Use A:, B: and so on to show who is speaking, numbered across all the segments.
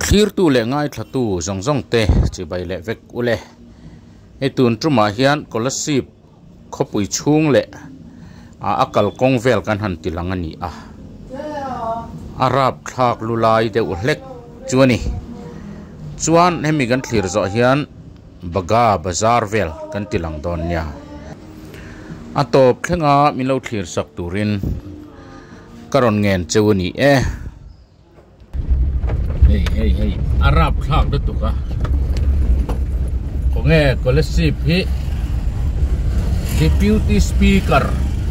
A: Thlirtu leh ngaithlatu zawng zawngte chibai leh vek u le. Hei tun tumah hian scholarship khawpui chhung leh a a kal kawng vel kan han ti lang a ni a. A rap thlak lu lai deuh hlek chu a ni. Chuan hemi kan thlir zawh hian. Baga Bazar vel kan ti lang dawn nia. A tawp thlenga min lo thlir sak turin ka rawn ngen cheu a ni e. Hei hei hei a rap thlak lutuk a. Khawnge College Sip hi Deputy Speaker.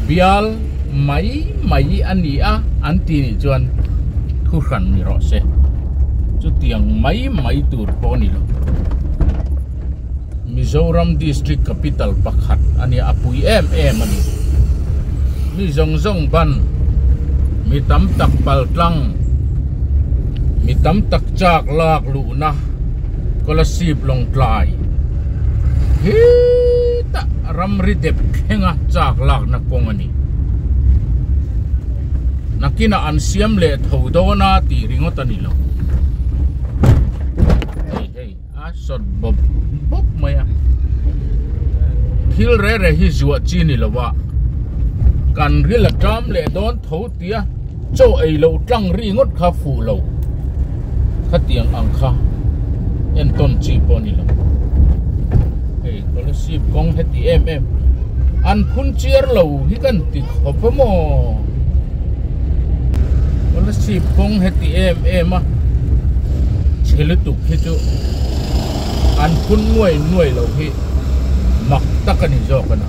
A: Bial mai mai a ni a an ti nih chuan thu hran ni rawh se chutiang mai mai tur pawh a ni lo. Mizoram district capital pakhat a nia a pui em em a ni. Mi zawng zawng ban mi tam tak pal tlang mi tam tak chak lak luhna Kolasib Lawngtlai hi tah-- ramri dep thlenga chak lakna kawng a ni. Nakinah an siam leh tho dawn a tih ringawt a ni lo. Hei hei, a sawt bawp bawp mai a. Thil rere hi zuah chi ni lo a, kan ril a ṭam leh dawn tho. Tia, chaw ei lo tlang ri ngawt kha fuh lo khatiang ang kha entawn chi pawh ni lo. Hei Scholarship kawng heti em em an phun chiar lo hi kan ti khawp a maw? Scholarship kawng heti em em a chhe lutuk hi chu an phun nuai nuai lo hi mak tak a ni zawk a na.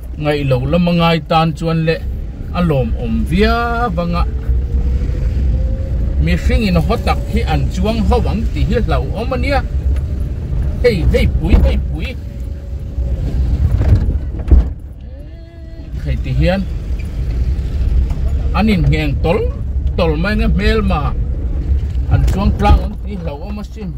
A: Ngaih loh lam a ngai tan chuan le a lawmawm viau vanga mihring in haw tak hi an chuang ho ang tih hi hlauhawm a nia. Hei hei pui hei pui hei ti hian an in ngheng tawlh tawlh mai nge hmelma an chuang tlang ang tih hlauhawm a sin.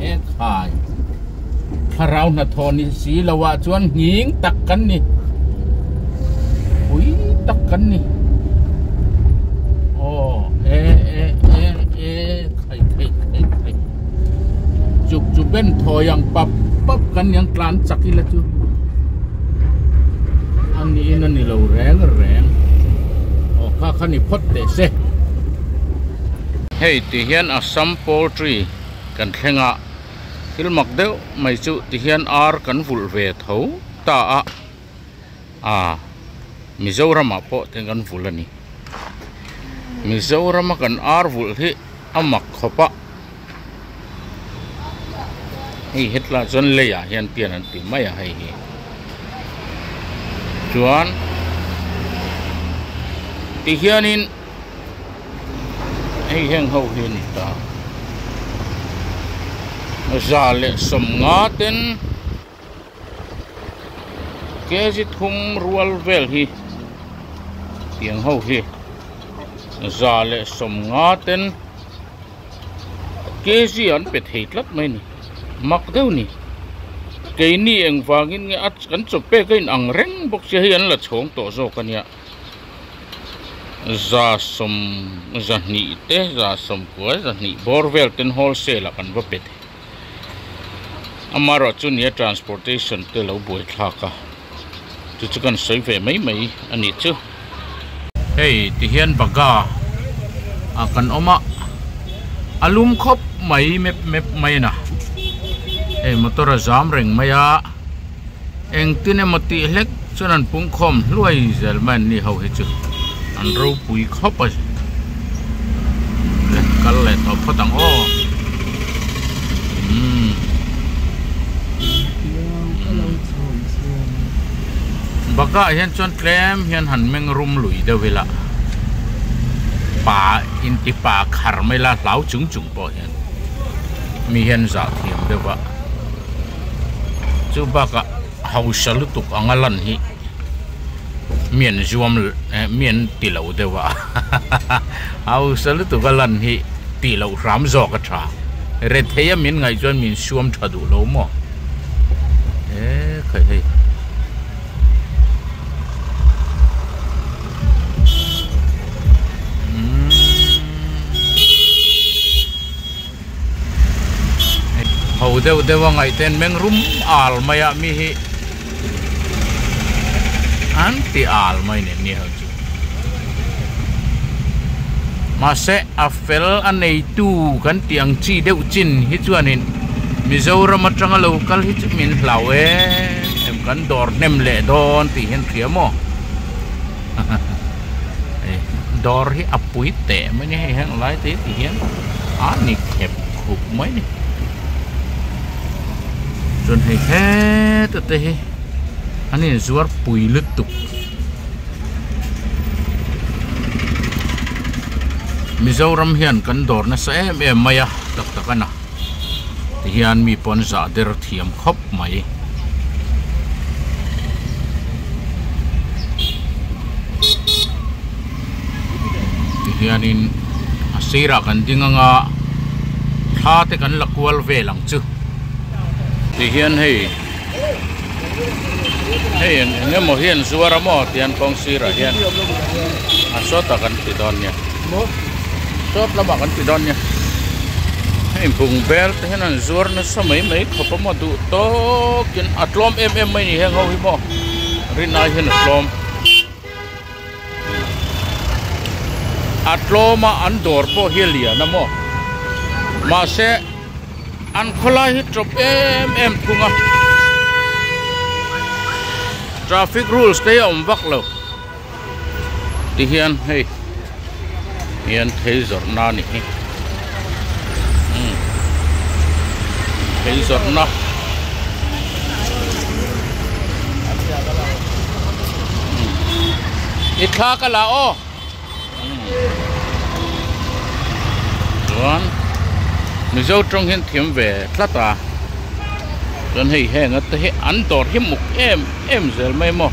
A: He khai thlarau hnathawh ni si lo ah chuan nghing tak kan ni. Pui tak kan ni. Oh, e e e e khai khai khai khai. Chuk chu ben thaw yang pap pap kan yang tlan chak ila chu. Ang ni in ani lo reng reng. Oh, kha kha ni phot te se. Hei ti hian Assam poultry kan thleng a, thil mak deuh mai chu ti hian ar kan vulh ve tho ta a, ah Mizoramah pawh theng kan vulh a ni. Mizorama kan ar vulh hi a mak khawp a, hei hetlai chuan lei ah hian pian an ti mai a hei hi, chuan ti hianin. hei heng ho hi a ni ta za leh sawm nga ten kzit hum rual vel hi tiang ho hi za leh sawm nga ten kz an pe thei tlat mai ni mak deuh ni keini engvangin nge a kan chawp pek a inang reng bawk sia hei an la chhawng tawh zawk a nia. za sawm zahnih te za sawmpuai zahnih bawr vel ten wholesale ah kan va pe thei amarawhchu nia transportation te lo buai thlak a chu chu kan sawi ve mai mai a nih chu hei ti hian baga ah kan awm a a lum khawp mai mep mep mai a na hei motor a zam reng mai a. engtin emaw tih hlek chuan an pungkhawm hluai zel mai an ni ho hi chu an ropui khawp a kal leh tawh phawt ang aw umm bakah hian chuan tlem hian han meng rum lui deuh ila pa intipa khar mai la hlau chung chung pawh hian mi hian zah thiam deuh a. chu bakah hausa lutuk anga lan hi mi an zuam eh mi an ti lo deuh a hahaha hausa lutuk a lan hi tih loh hram zawk a tha rethei a min ngaih chuan min suam tha duh lo maw eh khaih hei. ho deuh deuh a ngaihte an meng rum al mai a mi hi an ti al mai nen ni ho chu mahse a fel a neitu kan tih ang chi deuh chin hi chuanin Mizoram atanga lo kal hi chu min hlau e em kan dawr hnem leh dawn tih hian hria maw haha dawr hi a pui teh mai ni hei heng lai te tih hian. a ni khep khup mai ni chuan hei heta te hi an in zuar pui lutuk Mizoram hian kan dawr nasa em em mai a tak tak a na ti hian mi pawh an zah der thiam khawp mai. tihianin a sirah kan ding ang a thla te kan la kual vel ang chu tihian hei hei eng emaw hi an zuar a maw tian kawng sirah hian a sawta kan ti dawn nia sawt lamah kan ti dawn nia hei bung bel te hian an zuar nasa mai mai khawp a maw duh tawkin a tlawm em em mai ni heng ho hi maw rinai hian a tlawm. A tlawma an dawr pawh hi a lian a maw? Mahse, an khawlai hi tawp em em thung a. Traffic rules te hi a awm vak lo. Tihian hei. hian thei zawrhna a ni hi umm thei zawrhna i thla ka la aw umm chuan mizo tawng hian thiam ve tlat a chuan hei heng a te hi an dawr hi muk em em zel mai maw.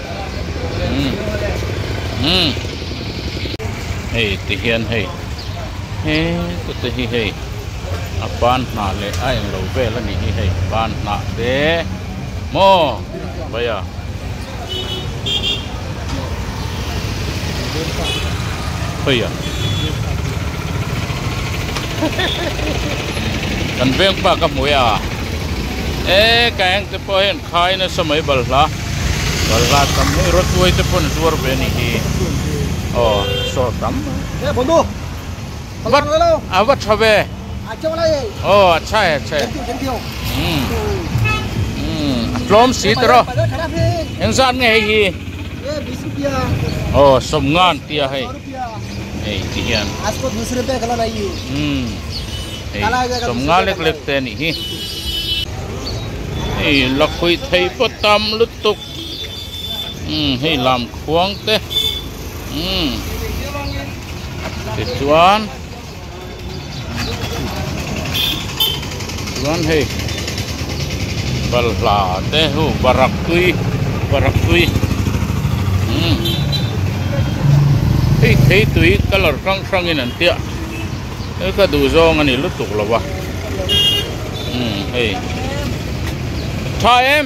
A: Hei ti hian hei he tute hi hei a pan hnah leh a englo vel a nih hi hei pan hnah te maw vaia hawia kan vengfa ka hmu e a e ka engte pawh hian-- Khai nasa mai balhla, balhla tam mai, Rawtuai te pawh zuar ve ni hi, aw sawr tam
B: mai,
A: a va tha ve, aw a chhai a chhai, umm umm a tlawm si ta rawh, engzat nge hei hi, aw sawmngan tia hei. Hei ti hian hei sawm nga lek lek te a nih hi. Hei la khuih thei pawh tam lutuk umm hei lam khuang te umm tichuan. chuan hei balhla te ho barak tui barak tui umm hei thei tui colour hrang hrang in an tia hei ka duh zawng a nih lutuk lo va umm hei tha em.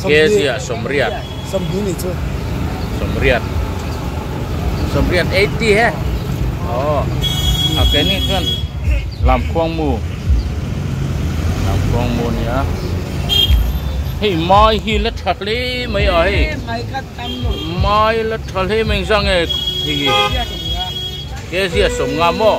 A: Kezi ah sawmriat sawmhnih ni chu
B: sawmriat
A: sawmriat eighty he oh a ke ni chuan lamkhuang mu lamkhuang mu nia hei mai hi la tha hle mai a hei mai la tha hle mai zang e hi Kezi a sawmnga maw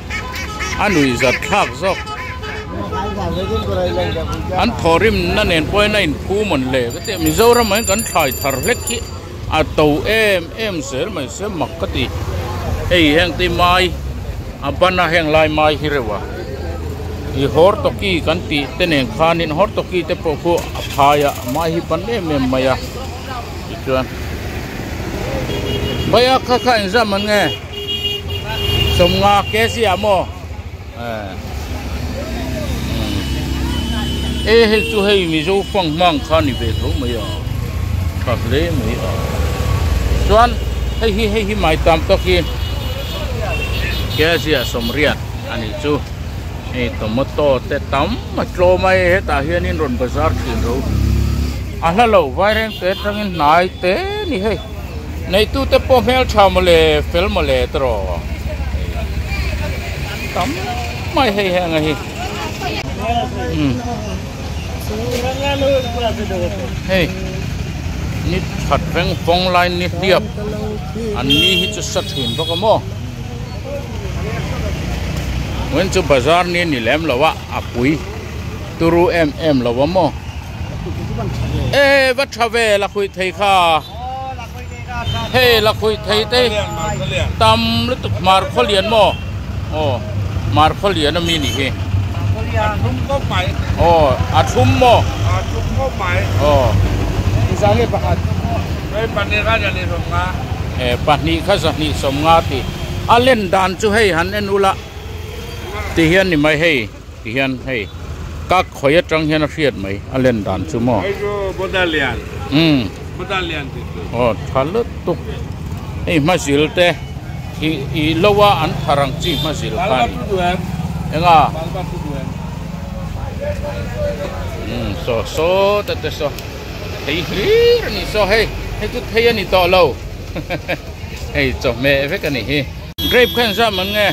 A: a nuih zat thlak zawk. An thawhrimna nen pawhin a inphumawn hle ka ti. Mizoram in kan thlai thar hlek hi a to em em zel mai se mak ka ti. Hei heng te mai a ban a heng lai mai hi reuh a i hawrtawki kan tih te nen khan in hawrtawki te pawh khu a phai a mai hi ban em em mai a tichuan. Baiah kha kha in zam an nge? Sawmnga kesi ah maw e hel chu hei mizo fang hmang kha ni ve tho mai a tha hle mai a chuan hei hi hei hi mai tam tak hi kesi ah sawmriat a nih chu hei tomato te tam a tlawm a e hetah hian in rawn bazar thin ro a hla lo vairengte atangin hnai te ni hei. Neitute pawh hmeltha mawle, fel mawle ta rawh. Tam mai hei heng a hi. Hei ni that reng fawng lai ni hliap an ni hi chu sa thin bawk a maw. Ngawiin chu bazar ni a ni lem lo a, a pui turu em em lo a maw. Ehh va tha ve lakhuih thei kha hei lakhuih thei te tam lutuk hmarkhaw lian maw aw hmarkhaw lian ami nih hi
B: aw a thum
A: maw
B: aw ehh pahnih kha
A: zahnih sawm nga tih a len dan chu hei han en ula ti hian ni mai hei. Ti hian hei kak khawi atang hian a hriat mai a len dan chu maw. Hei chu Buddha lian.
B: Umm. Buddha lian tih
A: chu. Aw tha lutuk. Hei hmazil te i i lo a an thar ang chi hmazil kha ni. Enga. Umm saw saw ta te saw thei hlir a ni saw hei hei chu thei a ni tawh lo hei chawhmeh vek a ni hi. Grape kha in zam ang nge.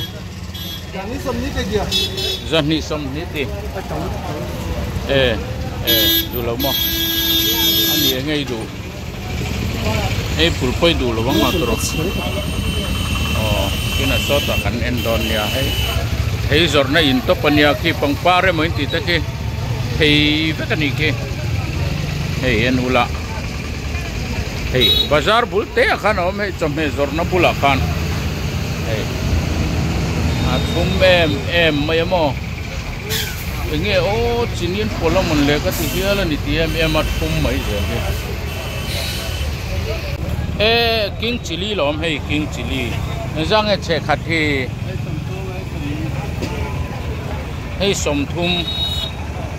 A: Zahnih sawm ni te dia. Zahnih sawm ni te. E, e, duh lo maw? A ni e ngei duh. Hei pulpawih duh lo ang a tur. Oh, tuna sawta kan en dawn nia hei. Thei zawrhna in tawp a nia khi pangpar emaw in tih te khi thei vek a nih khi. Hei en ula. hei bazar bul teh ah khan a awm hei chawhmeh zawrhna bulah khan hei a thum em em mai a maw eng nge aw chinin pawlh a mun leh ka ti hial a ni tih em em a thum mai zel hi e king chilli la awm hei king chilli engzah nge chhe khat hi hei sawmthum.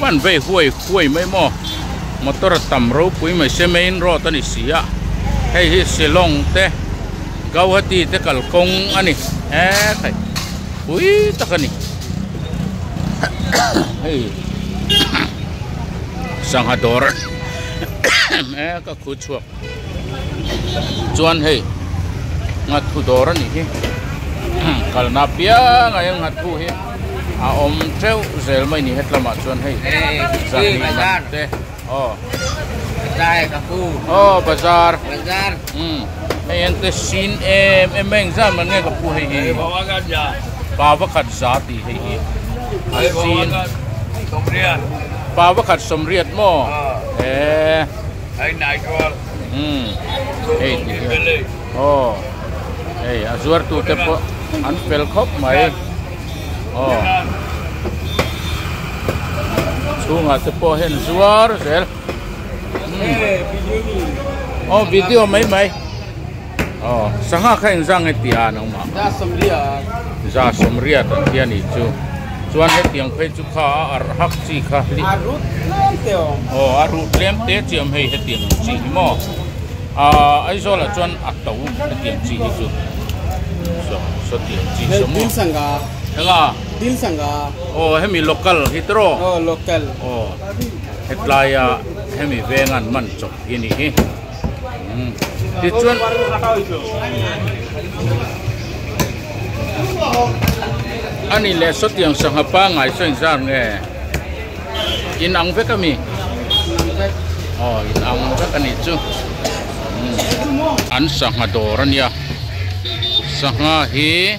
A: Van vei huai huai mai maw? Motor a tam ropui mai se main road a ni si a, hei hi Shillong te Guwahati te kalkawng a ni hekawih pui tak a ni. Hei sangha dawr em em e ka khuchhuak. chuan hei nghathu dawr a nih hi kalna piang ai a nghathu hi a awm teuh zel mai ni hetlama chuan hei zahnih man te aw ta
C: hei ka pu aw bazar
A: bazar
C: um hei
A: an te sin em em mai engzat man nge ka pu hei hi
B: pava khat
A: za ti hei hi a sin
B: pava
A: khat sawmriat maw e
B: Hei nai chuan
A: hei tih hian aw hei a zuartu te pawh an fel khawp mai aw chhungah te pawh hian zuar zel aw video mai mai. Aw, sangha kha engzang nge ti a nang mah? Za Somria. Za Somria ta chi a nih chu. Chuan hetiang phei chu kha a arh hak chi kha hli. A ruh tlem te awm. Aw, a ruh tlem te chi awm hei hetiang ang chi hi maw? Aaa, Aizawl ah chuan a to hetiang chi hi chu. Saw, saw ti ang chi saw maw? Dil sangha. Enga? Dil sangha. Aw, hemi local hi te rawh? Aw, local. Aw, hetlai a hemi venga an man chawp hi a nih hi. Tichuan a nih leh saw tiang sangha pangai saw in zar nge? In ang vek a mi? Aw in ang vek a nih chu. An sangha dawr a nia. Sangha hi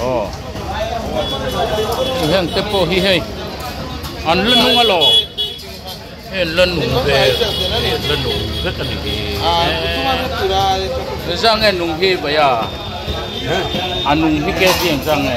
A: Aw hian te pawh hi hei an la nung a law hei la nung ve la nung vek a ni hi engge zang nge nung hi vaia a nung hi ke tiang zang nge.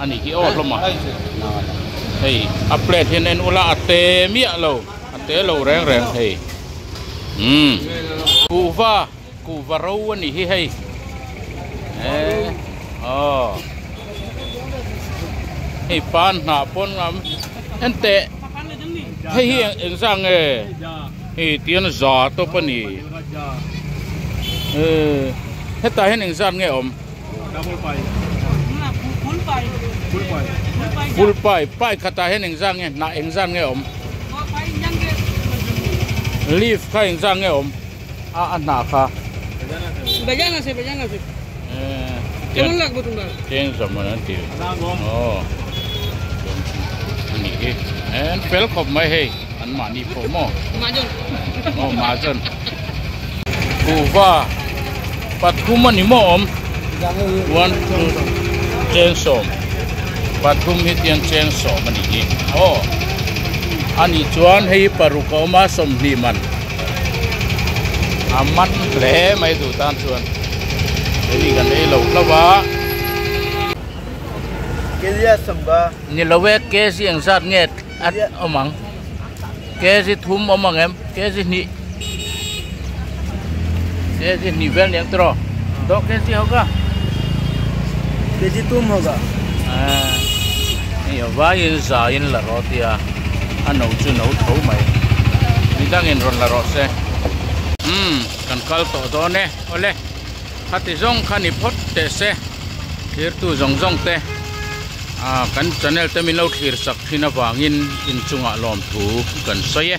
A: A nih hi aw hlawm a, hei a plate hi an en ulh a, a te miah lo, a te lo reng reng hei umm kuhva, kuhva ro a nih hi hei eh aw hei pan hnah pawn ang enteh hei hi eng zah nge hi tian za tawp a ni eh hetah hian eng zat nge awm. Fulpai, pai khatah hian engzah nge? Hnah engzah nge a awm? Leaf kha engzah nge a awm? A a hnah kha.
C: Tiang zawmawn an tih
A: lo. Aw, a nih hi. An fel khawp mai hei. an mahni pawh maw aw mahzan kuva pathum a ni maw awm one two chen sawm pathum hi tian chen sawm a ni hi aw a ni chuan hei paruk a awm a sawmhnih man a man hle mai duh tan chuan hei kan ei lo hlo va
C: Kelia sawmba ni lo e ke
A: ziang zat nge At awm ang. Kg thum awm ang em? Kg hnih. Kg hnih vel niang tiraw? Dawh kg hoga.
C: Kg tum hoga. Ah.
A: Ni a vaiin zain la rawh tia. A no chu no tho mai. Midangin rawn la rawh se. Umm, kan kal tawh dawn e. Awle. Khati zawng kha ni phawt teh se thirtu zawng zawng te ah kan channel te min lo thlir chak thin avangin inchunga lawmthu kan sawi e.